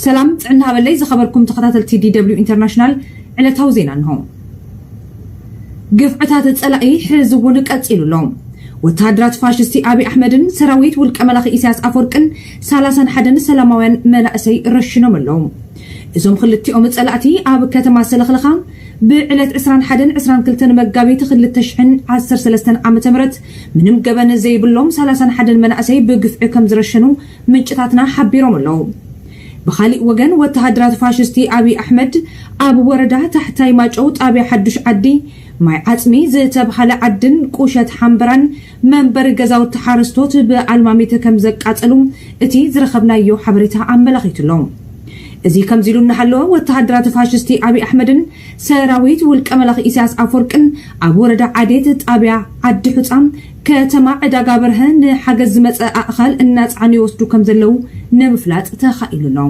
ሰላም ጥዕና ሃበለይ ዝኸበርኩም ተኸታተልቲ ዲደብሊው ኢንተርናሽናል ዕለታዊ ዜና እንሆ። ግፍዕታት ጸላኢ ሕዚ እውን ቀጺሉ ኣሎ። ወተሃደራት ፋሽስቲ ኣብዪ ኣሕመድን ሰራዊት ውልቀ መላኺ ኢሳያስ ኣፈወርቅን ሰላሳን ሓደን ሰላማውያን መናእሰይ ረሽኖም ኣለዉ። እዞም ክልቲኦም ጸላእቲ ኣብ ከተማ ሰለኽለኻ ብዕለት 21 22 መጋቢት 2013 ዓ ም ምንም ገበን ዘይብሎም ሰላሳን ሓደን መናእሰይ ብግፍዒ ከምዝረሸኑ ምንጭታትና ሓቢሮም ኣለው። ብኻሊእ ወገን ወተሃደራት ፋሽስቲ ኣብይ ኣሕመድ ኣብ ወረዳ ታሕታይ ማጨው ጣብያ ሓዱሽ ዓዲ፣ ማይ ዓፅሚ ዝተብሃለ ዓድን ቁሸት ሓምበራን መንበሪ ገዛውቲ ሓረስቶት ብኣልማሚት ከምዘቃፀሉ እቲ ዝረኸብናዮ ሓበሬታ ኣመላኺቱ ኣሎ። እዚ ከምዚ ኢሉ እናሃለወ ወተሃደራት ፋሽስቲ ኣብይ ኣሕመድን ሰራዊት ውልቀ መላኺ ኢሳያስ ኣፍወርቅን ኣብ ወረዳ ዓዴት ጣብያ ዓዲ ሑጻ ከተማ ዕዳጋ በርሀ ንሓገዝ ዝመጸ ኣእኻል እናጸዓኑ ይወስዱ ከምዘለዉ ንምፍላጥ ተኻኢሉ ኣሎ።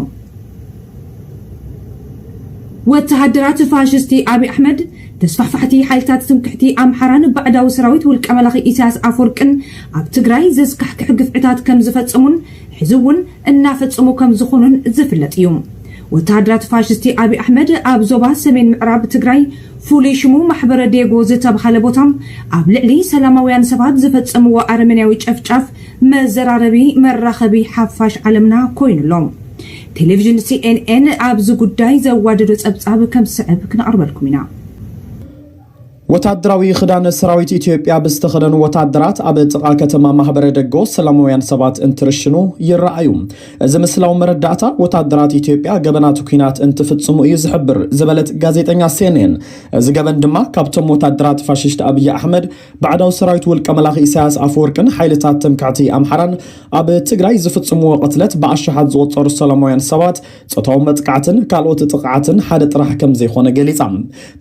ወተሃደራት ፋሽስቲ ኣብይ ኣሕመድ ተስፋሕፋሕቲ ሓይልታት ትምክሕቲ ኣምሓራን ባዕዳዊ ሰራዊት ውልቀ መላኺ ኢሳያስ ኣፍወርቅን ኣብ ትግራይ ዘስካሕክሕ ግፍዕታት ከምዝፈጸሙን ሕዚ እውን እናፈፀሙ ከምዝኾኑን ዝፍለጥ እዩ። ወተሃደራት ፋሽስቲ ኣብይ ኣሕመድ ኣብ ዞባ ሰሜን ምዕራብ ትግራይ ፍሉይ ሽሙ ማሕበረ ዴጎ ዝተብሃለ ቦታ ኣብ ልዕሊ ሰላማውያን ሰባት ዝፈፀምዎ ኣረመኔያዊ ጨፍጫፍ መዘራረቢ መራኸቢ ሓፋሽ ዓለምና ኮይኑ ኣሎ። ቴሌቪዥን ሲኤንኤን ኣብዚ ጉዳይ ዘዋደዶ ፀብፃብ ከም ዝስዕብ ክነቕርበልኩም ኢና። ወታደራዊ ክዳን ሰራዊት ኢትዮጵያ ብዝተኸደኑ ወታደራት ኣብ ጥቓ ከተማ ማህበረ ደጎ ሰላማውያን ሰባት እንትርሽኑ ይረኣዩ። እዚ ምስላዊ መረዳእታ ወታደራት ኢትዮጵያ ገበናት ኩናት እንትፍጽሙ እዩ ዝሕብር ዝበለት ጋዜጠኛ ሴኔን፣ እዚ ገበን ድማ ካብቶም ወታደራት ፋሽስት ኣብይ ኣሕመድ፣ ባዕዳዊ ሰራዊት ውልቀ መላኺ ኢሳያስ ኣፈወርቅን ሓይልታት ትምክሕቲ ኣምሓራን ኣብ ትግራይ ዝፍጽምዎ ቅትለት ብኣሽሓት ዝቑጸሩ ሰላማውያን ሰባት ጾታዊ መጥቃዕትን ካልኦት ጥቕዓትን ሓደ ጥራሕ ከም ዘይኮነ ገሊጻ።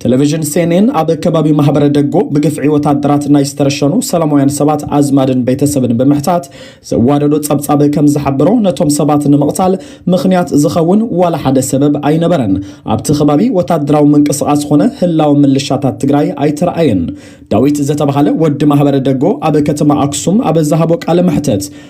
ቴሌቪዥን ሴኔን ኣብ ከባቢ ማህበረ ደጎ ብግፍዒ ወታደራት ናይ ዝተረሸኑ ሰላማውያን ሰባት ኣዝማድን ቤተሰብን ብምሕታት ዘዋደዶ ጸብጻብ ከም ዝሓበሮ ነቶም ሰባት ንምቕታል ምኽንያት ዝኸውን ዋላ ሓደ ሰበብ ኣይነበረን። ኣብቲ ከባቢ ወታደራዊ ምንቅስቓስ ኾነ ህላወ ምልሻታት ትግራይ ኣይተረኣየን። ዳዊት ዘተባሃለ ወዲ ማህበረ ደጎ ኣብ ከተማ ኣክሱም ኣብ ዝሃቦ ቃለ መሕተት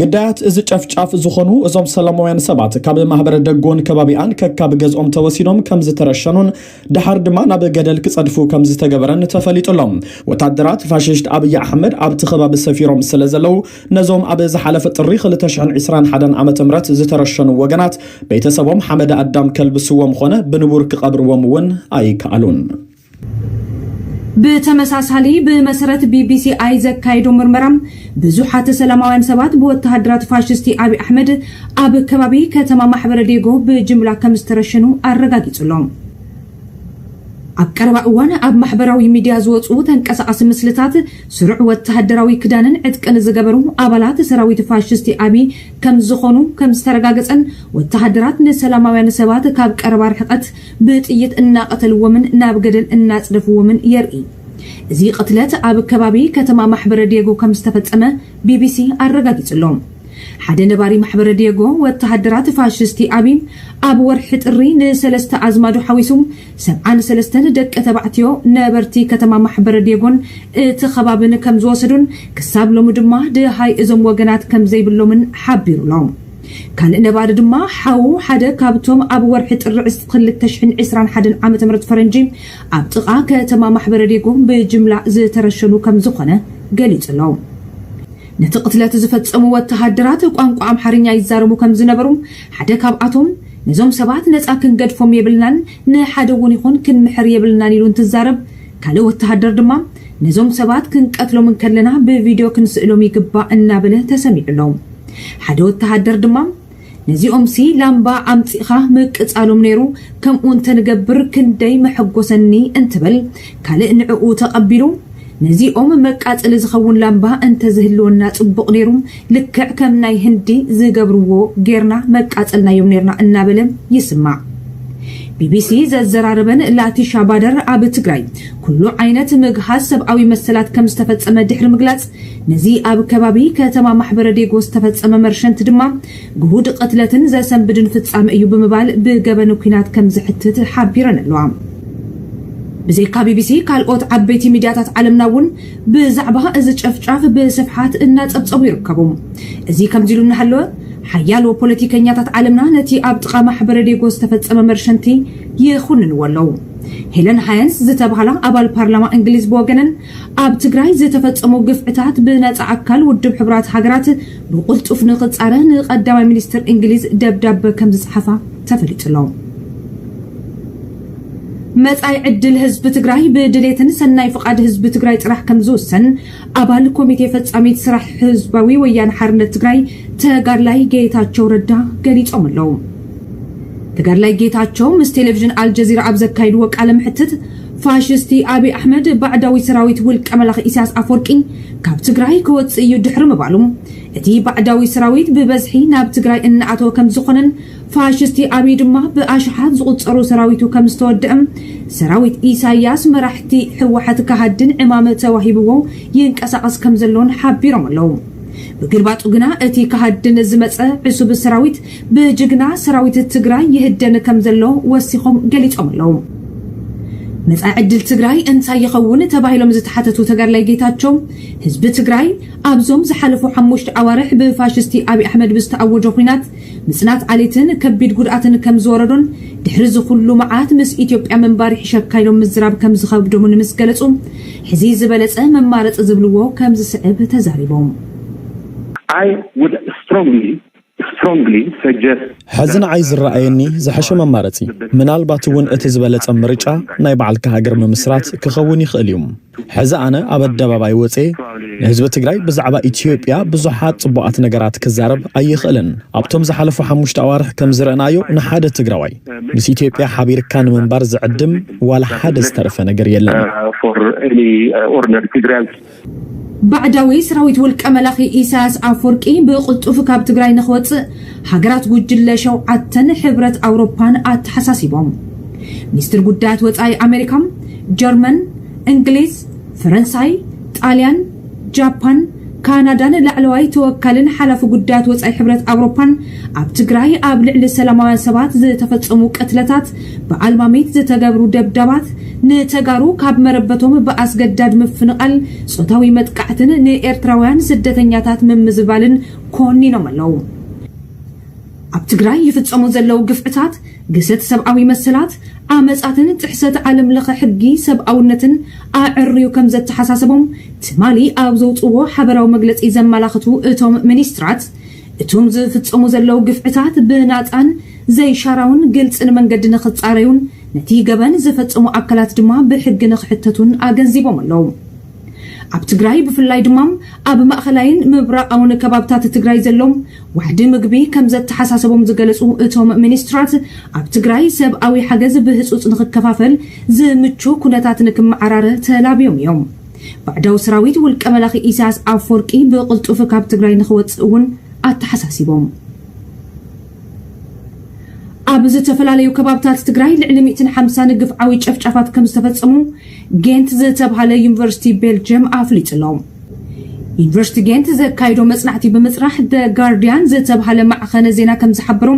ግዳያት እዚ ጨፍጫፍ ዝኾኑ እዞም ሰላማውያን ሰባት ካብ ማህበረ ደጎን ከባቢኣን ከካብ ገዝኦም ተወሲዶም ከምዝተረሸኑን ደሓር ድማ ናብ ገደል ክጸድፉ ከምዝተገበረን ተፈሊጡ ኣሎ። ወታደራት ፋሽስት ኣብይ ኣሕመድ ኣብቲ ከባቢ ሰፊሮም ስለዘለው ነዞም ኣብ ዝሓለፈ ጥሪ ክልተ ሽሕን ዒስራን ሓደን ዓመተ ምህረት ዝተረሸኑ ወገናት ቤተሰቦም ሓመደ ኣዳም ከልብስዎም ኾነ ብንቡር ክቐብርዎም እውን ኣይከኣሉን። ብተመሳሳሊ ብመሰረት ቢቢሲኣይ ዘካየዶ ምርመራ ብዙሓት ሰላማውያን ሰባት ብወተሃደራት ፋሽስቲ ኣብዪ ኣሕመድ ኣብ ከባቢ ከተማ ማሕበረ ዴጎ ብጅምላ ከም ዝተረሸኑ ኣረጋጊጹ ኣሎ። ኣብ ቀረባ እዋን ኣብ ማሕበራዊ ሚድያ ዝወፁ ተንቀሳቓሲ ምስልታት ስሩዕ ወተሃደራዊ ክዳንን ዕጥቅን ዝገበሩ ኣባላት ሰራዊት ፋሽስቲ ኣብዪ ከም ዝኾኑ ከም ዝተረጋገፀን ወተሃደራት ንሰላማውያን ሰባት ካብ ቀረባ ርሕቐት ብጥይት እናቐተልዎምን ናብ ገደል እናጽደፍዎምን የርኢ። እዚ ቕትለት ኣብ ከባቢ ከተማ ማሕበረ ድየጎ ከም ዝተፈጸመ ቢቢሲ ኣረጋጊጹ'ሎ። ሓደ ነባሪ ማሕበረ ድየጎ፣ ወተሃደራት ፋሽስቲ ኣብይ፣ ኣብ ወርሒ ጥሪ ንሰለስተ ኣዝማዱ ሓዊሱ ሰብዓን ሰለስተን ደቂ ተባዕትዮ ነበርቲ ከተማ ማሕበረ ድየጎን እቲ ከባብን ከም ዝወሰዱን ክሳብ ሎሚ ድማ ደሃይ እዞም ወገናት ከም ዘይብሎምን ሓቢሩ'ሎ። ካልእ ነባሪ ድማ ሓዉ ሓደ ካብቶም ኣብ ወርሒ ጥሪ ዕስት ክልተ ሽሕን ዕስራን ሓደን ዓመተ ምህረት ፈረንጂ ኣብ ጥቓ ከተማ ማሕበረ ዲጉ ብጅምላ ዝተረሸኑ ከም ዝኾነ ገሊጹ ኣሎ። ነቲ ቅትለት ዝፈጸሙ ወተሃደራት ቋንቋ ኣምሓርኛ ይዛረቡ ከም ዝነበሩ ሓደ ካብኣቶም ነዞም ሰባት ነጻ ክንገድፎም የብልናን ንሓደ እውን ይኹን ክንምሕር የብልናን ኢሉ እንትዛረብ ካልእ ወተሃደር ድማ ነዞም ሰባት ክንቀትሎም እንከለና ብቪድዮ ክንስእሎም ይግባእ እናበለ ተሰሚዑ ኣሎ። ሓደ ወተሃደር ድማ፣ ነዚኦምሲ ላምባ ኣምጺእኻ ምቅጻሎም ነይሩ፣ ከምኡ እንተ ንገብር ክንደይ መሐጐሰኒ እንትብል፣ ካልእ ንዕኡ ተቐቢሉ፣ ነዚ ኦም መቃጸሊ ዝኸውን ላምባ እንተ ዝህልወና ጽቡቕ ነይሩ፣ ልክዕ ከም ናይ ህንዲ ዝገብርዎ ጌርና መቃጸልናዮም ኔርና እናበለ ይስማዕ። ቢቢሲ ዘዘራረበን ላቲሻ ባደር ኣብ ትግራይ ኩሉ ዓይነት ምግሃስ ሰብኣዊ መሰላት ከም ዝተፈጸመ ድሕሪ ምግላጽ፣ ነዚ ኣብ ከባቢ ከተማ ማሕበረዴጎ ዝተፈጸመ መርሸንት ድማ ግሁድ ቕትለትን ዘሰንብድን ፍጻመ እዩ ብምባል ብገበን ኲናት ከም ዘሕትት ሓቢረን ኣለዋ። ብዘይካ ቢቢሲ ካልኦት ዓበይቲ ሚድያታት ዓለምና እውን ብዛዕባ እዚ ጨፍጫፍ ብስፍሓት እናጸብጸቡ ይርከቡ። እዚ ከምዚ ኢሉ እናሃለወ ሓያሎ ፖለቲከኛታት ዓለምና ነቲ ኣብ ጥቓ ማሕበረዴጎ ዝተፈጸመ መርሸንቲ ይኹንንዎ ኣለዉ። ሄለን ሃየንስ ዝተባህላ ኣባል ፓርላማ እንግሊዝ ብወገነን ኣብ ትግራይ ዝተፈፀሙ ግፍዕታት ብነፃ ኣካል ውድብ ሕቡራት ሃገራት ብቕልጡፍ ንኽፃረ ንቀዳማይ ሚኒስትር እንግሊዝ ደብዳበ ከምዝፀሓፋ ተፈሊጡ ኣሎ። መጻኢ ዕድል ህዝቢ ትግራይ ብድሌትን ሰናይ ፍቓድ ህዝቢ ትግራይ ጥራሕ ከም ዝውሰን ኣባል ኮሚቴ ፈጻሚት ስራሕ ህዝባዊ ወያነ ሓርነት ትግራይ ተጋድላይ ጌታቸው ረዳ ገሊጾም ኣለዉ። ተጋድላይ ጌታቸው ምስ ቴሌቪዥን ኣልጀዚራ ኣብ ዘካይድዎ ቃለ መሕትት ፋሽስቲ ኣብይ ኣሕመድ ባዕዳዊ ሰራዊት ውልቀ መላኺ ኢሳያስ ኣፍወርቂ ካብ ትግራይ ክወፅእ እዩ ድሕሪ ምባሉ እቲ ባዕዳዊ ሰራዊት ብበዝሒ ናብ ትግራይ እናኣተወ ከምዝኾነን ፋሽስቲ ኣብይ ድማ ብኣሽሓት ዝቑፀሩ ሰራዊቱ ከምዝተወደእም ሰራዊት ኢሳያስ መራሕቲ ህወሓት ከሃድን ዕማም ተዋሂብዎ ይንቀሳቐስ ከምዘሎን ሓቢሮም ኣለው። ብግልባጡ ግና እቲ ከሃድን ዝመፀ ዕሱብ ሰራዊት ብጅግና ሰራዊት ትግራይ ይህደን ከምዘሎ ወሲኾም ገሊፆም ኣለው። መፃኢ ዕድል ትግራይ እንታይ ይኸውን ተባሂሎም ዝተሓተቱ ተጋድላይ ጌታቸው፣ ህዝቢ ትግራይ ኣብዞም ዝሓለፉ ሓሙሽተ ኣዋርሕ ብፋሽስቲ ኣብይ ኣሕመድ ብዝተኣወጆ ኹናት ምፅናት ዓሌትን ከቢድ ጉድኣትን ከምዝወረዶን ድሕሪ እዚ ኹሉ መዓት ምስ ኢትዮጵያ ምንባር ይሕሸካ ኢሎም ምዝራብ ከምዝኸብዶምን ምስ ገለፁ ሕዚ ዝበለፀ መማረፂ ዝብልዎ ከምዝስዕብ ተዛሪቦም። I would strongly ሐዚ ንዓይ ዝረኣየኒ ዝሐሸ መማረፂ ምናልባት እውን እቲ ዝበለፀ ምርጫ ናይ ባዕልካ ሃገር ምምስራት ክኸውን ይኽእል እዩ። ሐዚ ኣነ ኣብ ኣደባባይ ወፅየ ንህዝቢ ትግራይ ብዛዕባ ኢትዮጵያ ብዙሓት ፅቡቓት ነገራት ክዛረብ ኣይኽእልን። ኣብቶም ዝሓለፉ ሓሙሽተ ኣዋርሕ ከምዝረእናዮ ንሓደ ትግራዋይ ምስ ኢትዮጵያ ሓቢርካ ንምንባር ዝዕድም ዋላ ሓደ ዝተረፈ ነገር የለን። ባዕዳዊ ስራዊት ውልቀ መላኺ ኢሳያስ ኣፍወርቂ ብቕልጡፍ ካብ ትግራይ ንክወጽእ ሃገራት ጉጅለ ሸውዓተን ሕብረት ኣውሮፓን ኣተሓሳሲቦም። ሚኒስትር ጉዳያት ወጻኢ ኣሜሪካ፣ ጀርመን፣ እንግሊዝ፣ ፈረንሳይ፣ ጣልያን፣ ጃፓን፣ ካናዳን ላዕለዋይ ተወካልን ሓላፊ ጉዳያት ወጻኢ ሕብረት ኣውሮፓን ኣብ ትግራይ ኣብ ልዕሊ ሰላማውያን ሰባት ዝተፈጸሙ ቅትለታት፣ ብኣልማሚት ዝተገብሩ ደብዳባት፣ ንተጋሩ ካብ መረበቶም ብኣስገዳድ ምፍንቓል፣ ጾታዊ መጥቃዕትን ንኤርትራውያን ስደተኛታት ምምዝባልን ኮኒኖም ኣለዉ። ኣብ ትግራይ ይፍጸሙ ዘለዉ ግፍዕታት፣ ግህሰት ሰብኣዊ መሰላት፣ ዓመጻትን ጥሕሰት ዓለምለኸ ሕጊ ሰብኣውነትን ኣዐርዩ ከምዘተሓሳሰቦም ትማሊ ኣብ ዘውጽእዎ ሓበራዊ መግለጺ ዘመላኽቱ እቶም ሚኒስትራት፣ እቱም ዝፍፀሙ ዘለው ግፍዕታት ብናፃን ዘይሻራውን ግልፅን መንገዲ ንክፃረዩን ነቲ ገበን ዝፈፀሙ ኣካላት ድማ ብሕጊ ንክሕተቱን ኣገንዚቦም ኣለው። ኣብ ትግራይ ብፍላይ ድማ ኣብ ማእኸላይን ምብራቓውን ከባብታት ትግራይ ዘሎ ዋሕዲ ምግቢ ከምዘተሓሳሰቦም ዝገለፁ እቶም ሚኒስትራት ኣብ ትግራይ ሰብኣዊ ሓገዝ ብህፁፅ ንክከፋፈል ዝምቹ ኩነታት ንክመዓራረ ተላብዮም እዮም። ባዕዳዊ ሰራዊት ውልቀ መላኺ ኢሳያስ ኣፍወርቂ ብቕልጡፍ ካብ ትግራይ ንኽወጽእ እውን ኣተሓሳሲቦም። ኣብ ዝተፈላለዩ ከባብታት ትግራይ ልዕሊ ሚእትን ሓምሳን ግፍዓዊ ጨፍጫፋት ከም ዝተፈጸሙ ጌንት ዝተብሃለ ዩኒቨርሲቲ ቤልጅየም ኣፍሊጡ ኣሎ። ዩኒቨርሲቲ ጌንት ዘካይዶ መጽናዕቲ ብምጽራሕ ደ ጋርዲያን ዝተብሃለ ማዕኸነ ዜና ከም ዝሓበሮ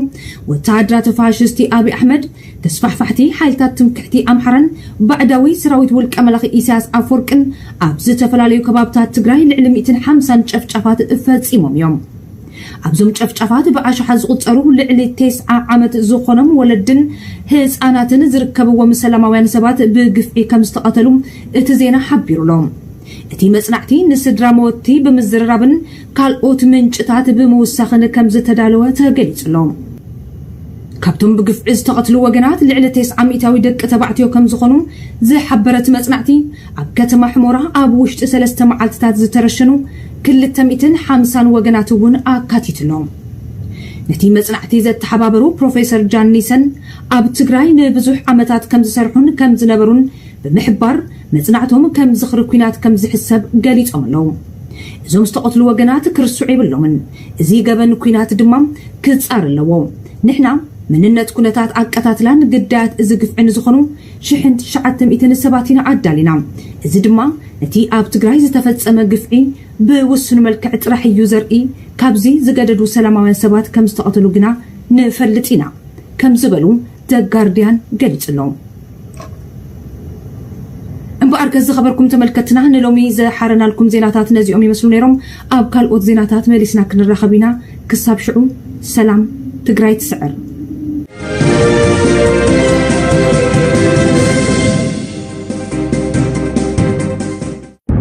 ወተሃደራት ፋሽስቲ ኣብይ ኣሕመድ ተስፋሕፋሕቲ ሓይልታት ትምክሕቲ ኣምሓራን ባዕዳዊ ሰራዊት ውልቀ መላኺ ኢሳያስ ኣፍወርቅን ኣብ ዝተፈላለዩ ከባብታት ትግራይ ልዕሊ ሚእትን ሓምሳን ጨፍጫፋት ፈጺሞም እዮም። ኣብዞም ጨፍጫፋት ብኣሽሓት ዝቑጸሩ ልዕሊ ቴስዓ ዓመት ዝኾኖም ወለድን ህጻናትን ዝርከብዎም ሰላማውያን ሰባት ብግፍዒ ከም ዝተቐተሉ እቲ ዜና ሓቢሩ'ሎ። እቲ መጽናዕቲ ንስድራ መወትቲ ብምዝርራብን ካልኦት ምንጭታት ብምውሳኽን ከምዝተዳለወ ተገሊጹ'ሎ። ካብቶም ብግፍዒ ዝተቐትሉ ወገናት ልዕሊ ቴስዓ ሚእታዊ ደቂ ተባዕትዮ ከምዝኾኑ ዝሓበረ'ቲ መጽናዕቲ፣ ኣብ ከተማ ሑሞራ ኣብ ውሽጢ ሰለስተ መዓልትታት ዝተረሸኑ ክልተ ሚእትን ሓምሳን ወገናት'ውን ኣካቲቱ'ሎ። ነቲ መጽናዕቲ ዘተሓባበሩ ፕሮፌሰር ጃን ኒሰን፣ ኣብ ትግራይ ንብዙሕ ዓመታት ከምዝሰርሑን ከምዝነበሩን ብምሕባር፣ መጽናዕቶም ከም ዝኽሪ ኲናት ከምዝሕሰብ ገሊጾም'ለው። እዞም ዝተቐትሉ ወገናት ክርስዑ የብሎምን። እዚ ገበን ኩናት ድማ ክጻር ኣለዎ። ንሕና መንነት ኩነታት ኣቀታትላን ግዳያት እዚ ግፍዒ ንዝኾኑ ሽሕን ትሽዓተ ሚእትን ሰባት ኢና ኣዳሊና። እዚ ድማ ነቲ ኣብ ትግራይ ዝተፈጸመ ግፍዒ ብውሱን መልክዕ ጥራሕ እዩ ዘርኢ። ካብዚ ዝገደዱ ሰላማውያን ሰባት ከምዝተቐተሉ ግና ንፈልጥ ኢና ከም ዝበሉ The Guardian ገሊጹ'ሎ። እምበኣርከስ ዝኸበርኩም ተመልከትና ንሎሚ ዘሓረናልኩም ዜናታት ነዚኦም ይመስሉ ነይሮም። ኣብ ካልኦት ዜናታት መሊስና ክንራኸብ ኢና። ክሳብ ሽዑ ሰላም፣ ትግራይ ትስዕር!